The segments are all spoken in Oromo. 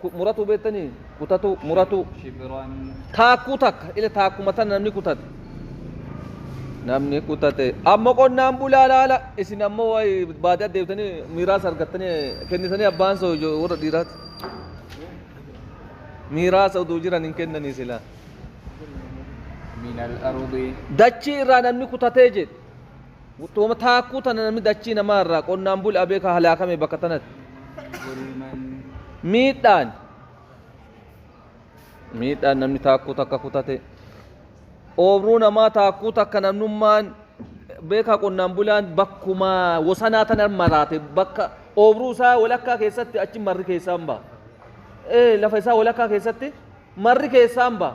Ku, muratuu beettanii? Kutatuu, muratuu. Shibiraan. Taakkuu takka. Ila taakkuma tana namni kutate. Namni kutate. Amma qonnaan bulaa laala. Isin ammoo wayi baadiyaa deebitanii miiraas argattanii kennitanii abbaan soo ijo- warra dhiiraati. Miiraasa uduu jiran hin kennanii silaa. Minal arudii. Dachii irraa namni kutatee jedhe. Utuma taakkuu tana namni dachii namaa irraa qonnaan bul abee ka halaakame bakka tanatti. Miidhaan miidhaan namni taakkuu takka kutate oobruu namaa taakkuu takka namnummaan beekaa qonnaan bulaan bakkuma wosanaa tana maraate bakka oobruu isaa walakkaa keessatti achi marri keessaan ba'a. Ee lafa isaa walakkaa keessatti marri keessaan ba'a.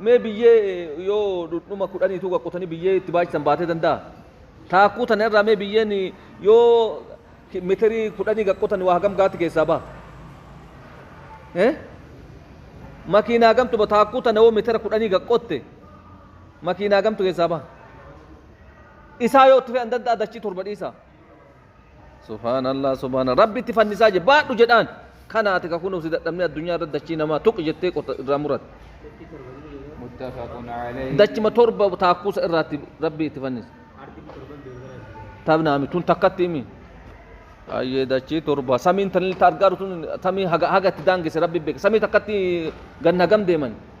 Mee biyyee yoo dhudhuma kudhanii tuuqa qotanii biyyee itti baachisan baatee danda'a? Taakkuu tana irraa mee biyyeen yoo ki- mitirii kudhanii gad qotan waa hagam gaatti keessaa baha? Eh? Makiinaa gamtu ba taakkuu tana yoo mitira kudhanii gad qotte makiinaa gamtu keessaa baha? Isaa yoo itti fe'an danda'a dachii torba dhiisaa? Subhaanallah subhaanallah rabbitti fannisaa je baadhu jedhaan kana ati ka kunuu si dadhabnee addunyaa irra dachii namaa tuqi jettee qota irraa murat متفق عليه dachima torba taakkuusa irraatti rabbii itti fannisa tabnaami tun takkatti himi ayyee dachii torba samiin tanilta argaaru tun samii haga haga itti daangesse rabbi beeka samii takkatti ganna gam deeman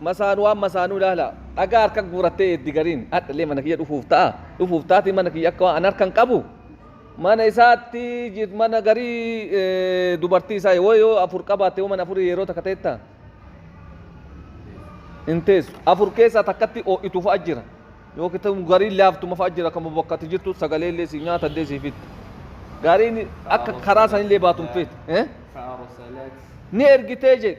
Masaanu waan masaanuu ilaalaa. Dhagaa harka guurattee eeddi gariin hadhallee mana kiyya dhufuuf ta'a dhufuuf taati mana kiyya akka waan an harkan qabu mana isaatti jir mana garii dubartii isaa yoo yoo afur qabaatte yoo mana afurii yeroo takka ta'etta hin teessu afur keessaa takkatti oo'itu fa'a jira yoo kitabu gariin laaftuma fa'a jira kan bakka ati jirtu sagalee illee si nyaata illee si fitta gariin akka karaa sanillee baatu hin feetu eh? فأرسلت ni ergitee jedhe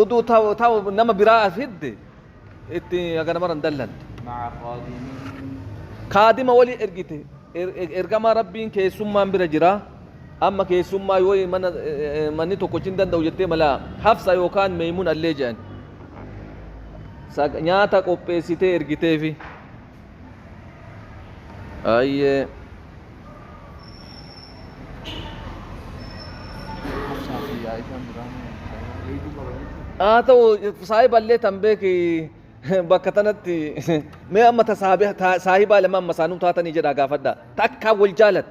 uduu ta'u ta'u nama biraa as hidde itti haga namara hin dallantu مع خادم kaadima wali ergite Er- er- ergamaa rabbiin keessummaan bira jira amma keessummaa yoo mana eh, eh, manni tokkochi hin danda'u jettee mala hafsa yookaan meeymun allee jedhan Sa- nyaata qopheessitee ergiteefi Ayyee. haa ta'u saahiballee tan beeki bakka tanatti mee amma ta saahiba lama amma saanuu taatanii jedhaa gaafadha ta akkaan wal jaalatu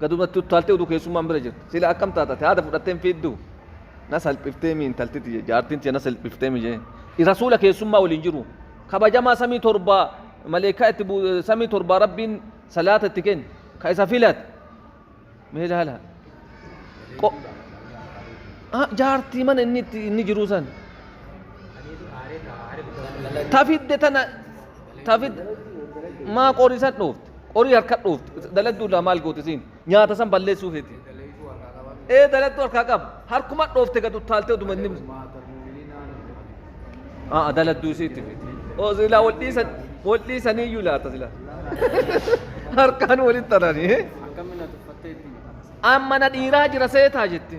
Gadumatti uttaaltee uduu keessummaan bira jirtu. Sila akkam taata ati haada fudhattee hin fiidduu? Na salphifteemi intalti tiyya jaartiin tiyya na salphifteemi jee. Rasuula keessummaa waliin jiru. Kabajamaa samii torbaa maleekkaa itti bu samii torbaa rabbiin salaata itti kenne. Ka isa filate. Mee ilaala. Qo jaartii mana inni itti inni jiruu san. Ta fidde tana ta fidde maa qorisan dhoofte. Qorii harka dhoofti. Daladduu irraa maal goote siin? Nyaata san balleessuu feeti. Ee daladduu harkaa qaba. Harkuma dhoofte gad uttaaltee oduma inni. Aa daladduu isii itti feeti. Oo silaa wal dhiisan wal dhiisanii iyyuu laata silaa. Harkaan walitti taranii. Amma na dhiiraa jira seetaa jetti.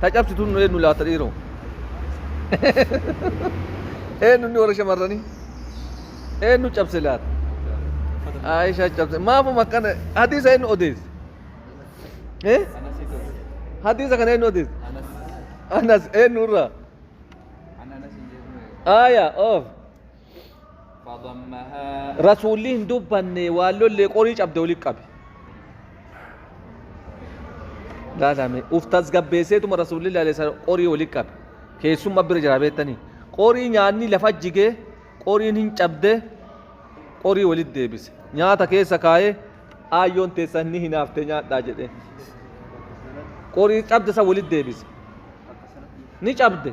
Ta cabsitu nu eenyu laata dhiiroo? Eenyu inni warra shamarranii? Eenyu cabse laata? Aisha cabse. Maafuma akkana hadiisa eenyu odeesse? Eh? Hadiisa kana eenyu odeesse? Anas eenyu irraa? Aya of. فضمها rasuulli hin dubbanne waan lollee qorii cabde walitti qabe laalame uf tasgabbeesseetuma rasuulli laalessa qorii walitti qabe keessumma bira jira beektanii qorii nyaanni lafa jigee qoriin hin cabde qorii walitti deebise nyaata keessa kaa'ee aayyoon teessan ni hinaafte nyaadhaa jedhee qorii cabde san walitti deebise ni cabde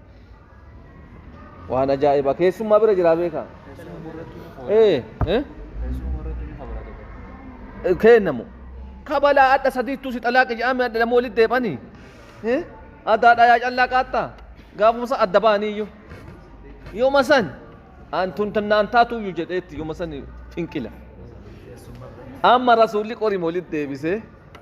waan ajaa'ibaa keessummaa bira jiraa beekaa ee ee keennamu kabalaa adha sadiittuu si xalaaqi jedhame adha lama walitti deebanii addaa dhayaa callaa qaattaa gaafumsa adda baaniiyyu yooma san antun tannaan taatuuyyu jedheetti yooma san finqila amma rasuulli qorima walitti deebisee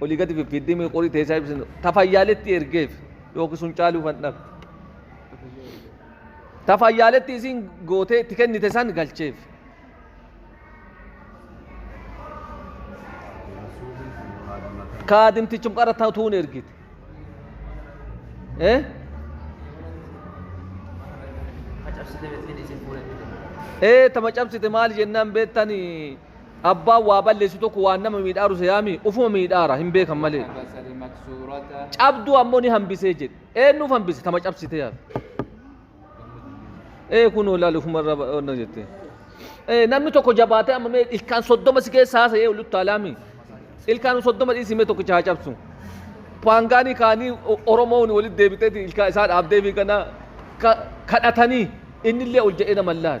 olii gadi fiffiiddimii qorii teessaa ibsinu tafayyaaletti ergeef yookiin sun caaluu kan dhabde. Tafayyaaletti isiin gootee itti kennite san galcheef. Kaadimtichum qara tatuun ergite. Eh? Ee tama cabsite maal jennaan beektanii Abbaan waa balleessu tokko waan nama miidhaaru seyaami ufuma miidhaara hin beekan malee. حبس المكسورة Cabduu ammoo ni hambisee jedhe. Eennuuf hambise tama cabsitee hafe. Ee kunoo ilaali ufuma irra ba- onna jette. Ee namni tokko jabaatee amma mee ilkaan soddoma si keessa haasa ee oluttaa laami. Ilkaan soddoma dhiisii mee tokkicha haa cabsu. Paangaanii kaanii O- Oromoon walitti deebiteeti ilkaan isaa dhaabdee fi kana ka- kadhatanii innillee ol jedhee nama laala.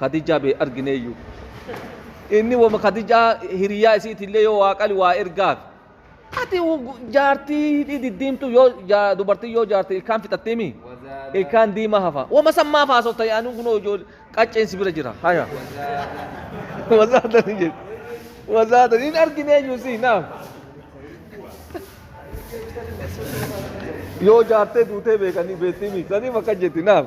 Khadijaa bee argineeyyu. Inni wama Khadijaa hiriyaa isiitillee yoo waa qali waa ergaaf. Ati jaartii hidhii diddiimtu yoo ja- dubartiin yoo jaarte ilkaan fixattee mi? وزاد Ilkaan diimaa hafa. Wama san maaf haasofta yaa'anii kunoo ijoollee qacceen si bira jira. Haya. وزاد Wazaatan hin jedhu. Wazaatan hin argineeyyu si naaf. Yoo jaartee duutee beekanii beektii mi? Saniif akka jetti naaf.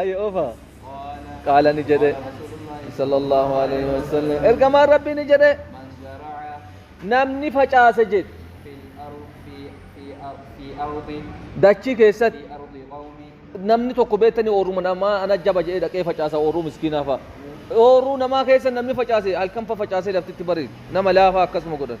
ayi ofa qaala ni jedhe sallallahu alaihi wasallam ergamaan rabbii ni jedhe namni facaase jedhe dachii keessatti namni tokko beektanii ooruma namaa ana jaba jedhee dhaqee facaasa ooruu miskiinaa fa'a ooruu namaa keessa namni facaase halkan fa facaasee laftitti bari'e nama laafaa akkasuma godhan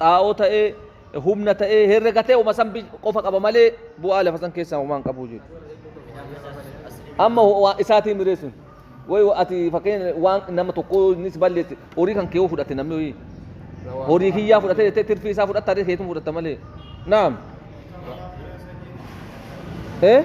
xaa'oo ta'ee humna ta'ee herrega ta'e uma san qofa qaba malee bu'aa lafa san keessaa homaa hin qabu jedhu. Amma waa isaatiin mireessuun wayi ati fakkeenya waan nama tokko innis balleessi horii kan keewoo fudhate namni horii horii kiyyaa fudhate jettee tirfii isaa fudhatta harree keetiin fudhatta malee. Naam. Eh?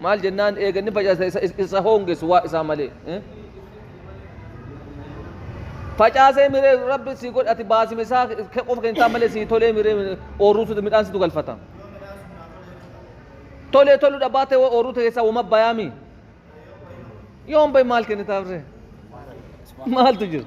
Maal jennaan eega inni facaase isa, isa, isa hoongessu waa isaa malee. eh? Facaasee miree rabbi sii godhe ati baasime isaa kee qofa kentaa malee sii tolee miree miree oorruu suutu midhaan situ galfata. Tolee toluu dhabaatee waa oorruu ta'e keessaa wama bayaami. Yoon bayi maal kennitaaf ree? Maaltu jira?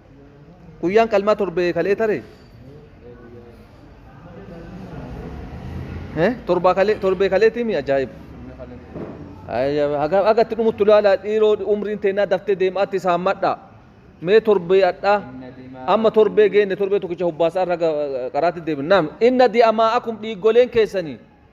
guyyaan qalmaa torbee kalee tare Eh, torbaa kalee torbee kaleetii mi ajaa'iba Ayya, haga haga itti dhumuttu ilaalaa dhiiroo umriin teennaa daftee deemaatti isaan madhaa mee torbee adhaa amma torbee geenne torbee tokkicha hubbaasaa irra qaraatti deebin naam inna di'amaa akum dhiiggoleen keessanii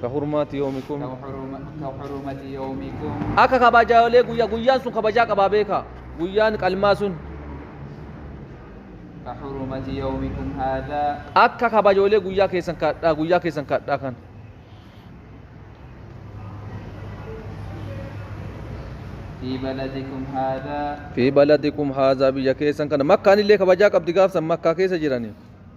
Ka hurmaati yoomikum. ka huruma- ka hurumati yawmikum Akka kabajaalee guyyaa guyyaan sun kabajaa qabaa beekaa. Guyyaan qalmaa sun ka hurumati yawmikum hadha akka kabajoolee guyyaa keessan kadhaa guyyaa keessan kadhaa kan. fi baladikum hadha Fi baladikum haazaa biyya keessan kana makkaan illee kabajaa qabdi gaafsan makkaa keessa jiranii.